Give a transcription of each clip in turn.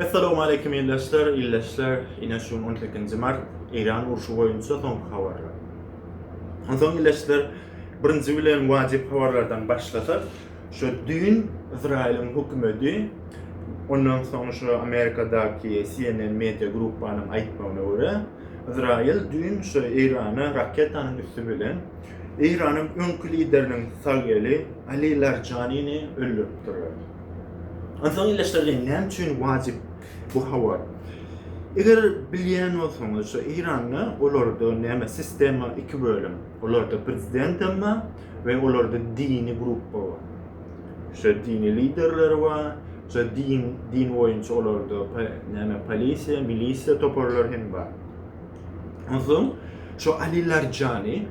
Essalowmaleýkim ildeşler, ildeşler ine şu gün on sekinji mart Eýran urşy boýunça soňky habarlar. Onsoň ildeşler birinji bilen wajyp habarlardan başlasak şu düýn Yzraýylyň hökümedi ondan soň şu Amerikadaky CNN media gruppanyň aýtmagyna görä Yzraýyl düýn şu Eýrana raketanyň üsti bilen Eýranyň öňki lideriniň sag eli Ali Larjanini öldüripdirler. Onsoň ildeşlerden näme üçin wajyp bu habar? Eger bilýän bolsaňyz, şu Eýranda olarda näme sistema iki bölüm. Olarda prezident hem bar we olarda dini gruppa bar. Şu dini liderleri bar, şu din din boýunça olarda näme polisiýa, milisiýa toparlary hem bar. Onsoň şu Ali Larjani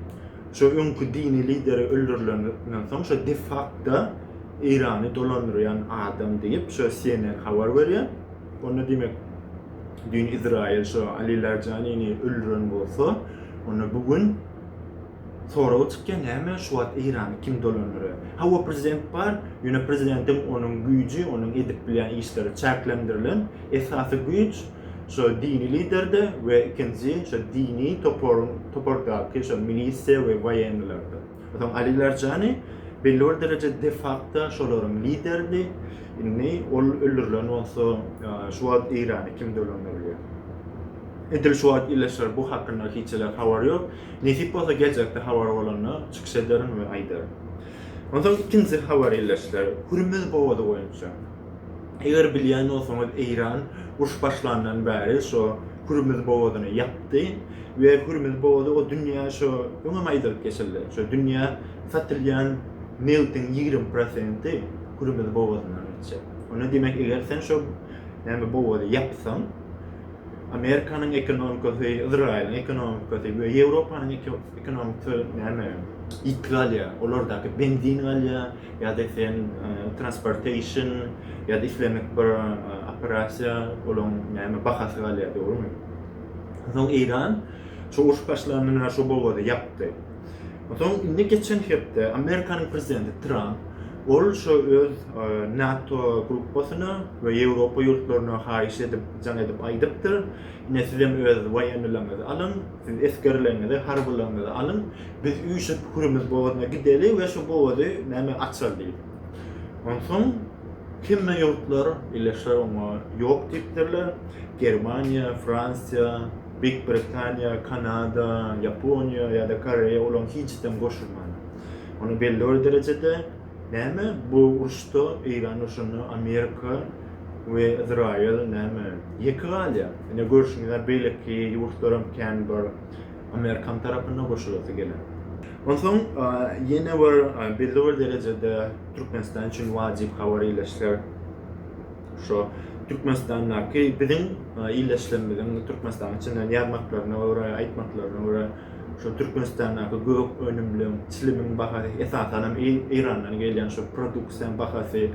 Şu öňki dini lideri öldürileninden soň şu de fakto Eýrany dolandyrýan adam diýip şu CNN habar berýär. Onda diýmek düýn Izraýyl şu Ali Larjanini öldüren bolsa onda bu gün sorag çykýar näme şu wagt Eýrany kim dolandyrýar. Hawa prezident bar ýöne prezidentiň onuň güýji onuň edip bilýän işleri çäklendirilen esasy güýç Şo dini liderde we ikinji şo dini toparyň topardaky şo milisiýa we waýenlerde. Soň Ali Larjani belli bir derejede defakto şolaryň lideridi. Indi ol öldürilen bolsa, şu wagt Eýrany kim dolandyryar? Edil şu wagt ýylyşyr bu hakynda hiç hili habar ýok. Nesip bolsa geljekde habar bolanda çykyş ederin we aýdaryn. Onsoň ikinji habar ýylyşlar Hürmüz bogazy boýunça. Eger bilýän bolsaňyz Eýran uruş başlandan bäri şo Hürmüz bogazyny ýapdy we Hürmüz bogazy o dünýä şo öňem aýdylyp geçildi. Şo dünýä satylýan nebtiň ýigrimi prosenti Hürmüz bogazyndan geçjek. Onda diýmek eger sen şo näme bogazy ýapsaň Amerikanyň ekonomikasy, Yzraýylyň ekonomikasy we Ýewropanyň ekonomikasy näme ýitgi alýar. Olardaky benzin galýar. ýa-da eýsem transportation ýa-da islendik bir operasiýa olaň näme bahasy galýar dogrymy? Soň Eýran şu uruş başlandan bäri şu bogazy ýapdy. Soň indi geçen hepde Amerikanyň prezidenti Tramp ol şu öz NATO gruppasyna we Ýewropa ýurtlaryna haýyş edip, jaň edip aýdypdyr, ine sizem öz waýennilerňizi alyň, siz esgerleriňizi, harbylaryňyzy alyň, Biz üýşüp Hürmüz bogazyna gideli we şu bogazy näme açaly diýip. Onsoň hemme ýurtlar birleşer oňa ýok diýipdirler. Germaniýa, Fransiýa, Beýik Britaniýa, Kanada, Ýaponiýa ýa-da Koreýa olaň hiçisem goşulman. Ony belli bir derejede näme bu uruşda Eýran urşunda Amerika we Izraýyl näme ýeke galýar. Ine görşüňiz ýaly beýleki ýurtlaram kän bir amerikan tarapynda goşulasy geler. Onsoň ýene bir belli bir derejede Türkmenistan üçin wajyp habar ýyleşse, şo Türkmenistandaky biziň ildeşlerimiziň Türkmenistanyň içinden ýazmaklaryna görä, aýtmaklaryna görä, şo Türkmenistandaky gök önümliň, çilimiň bahasy, esasan hem Eýrandan gelýän şo produksiýanyň bahasy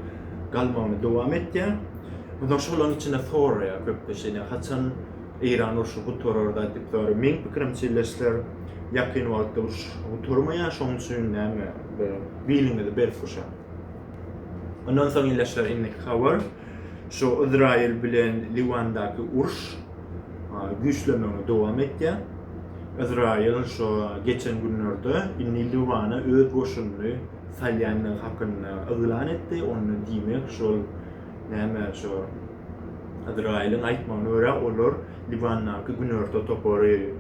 galmagyny dowam etýär. Onsoň şolaryň içinde soraýar köplenç ine haçan Eýran urşy gutararda diýip sorap, meň pikirimçe Ýeşler ýakyn wagtda uruş gutarmaýar, şoň üçin näme bir biliňizi berip guşaň. Ondan soň Ýeşler indiki habar şu Izraýyl bilen Liwandaky uruş güýçlenmegini dowam etýär. Izraýyl şu geçen günlerde indi Liwana öz goşunyny salýandygy hakynda yglan etdi, onda diýmek şol Näme, şo Yzraýylyň aýtmagyna görä, olar Liwandaky günorta topary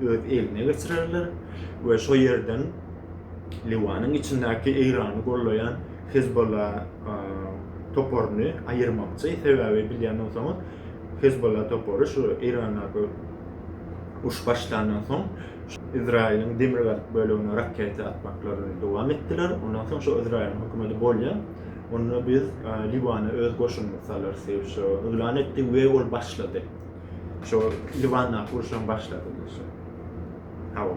öz eline geçirerler we şo ýerden Liwanyň içindäki Eýrany gollaýan Hezbolla toparyny aýyrmakçy. Sebäbi bilýän bolsaňyz, Hezbolla topary şu Eýrandaky uruş başlandan soň Yzraýylyň demirgazyk bölegine raketa atmaklaryny dowam etdiler. Ondan soň şo Yzraýylyň hökümeti bolýar. Onda biz Liwana öz goşunymyzy salarys diýip şo yglan etdi we ol başlady. Şo Liwandaky uruşam başlady diýşi. Hawa.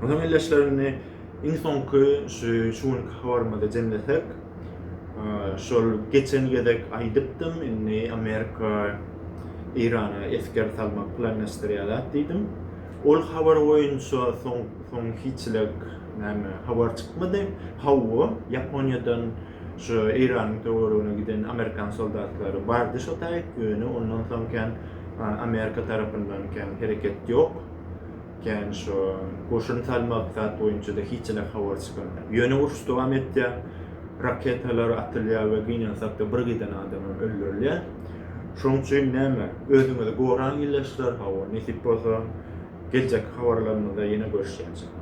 Ondan elleşlerini iň soňky şu şu günki habarymyzy jemlesek, şol geçen gezek aýdypdym, indi Amerika Eýrana esger salmak planlaşdyrýarlar diýdim. Ol habar boýunça soň soň hiçilik näme habar çykmady. Hawa, Ýaponiýadan şu Eýranyň töweregine giden amerikan soldatlary bardy şo taýt, ýöne ondan soň kän Amerika tarapyndan kän hereket ýok. Kän şu goşun salmak zat boýunça-da hiçilik habar çykanok. Ýöne uruş dowam etýär. Raketalar atylýar we gynansak-da bir giden adamam öldürilýär. Şoň üçin näme, özüňizi goraň ýyllaçlar, hawa, nesip bolsa, geljekki habarlarymyzda ýene görüşýänçik.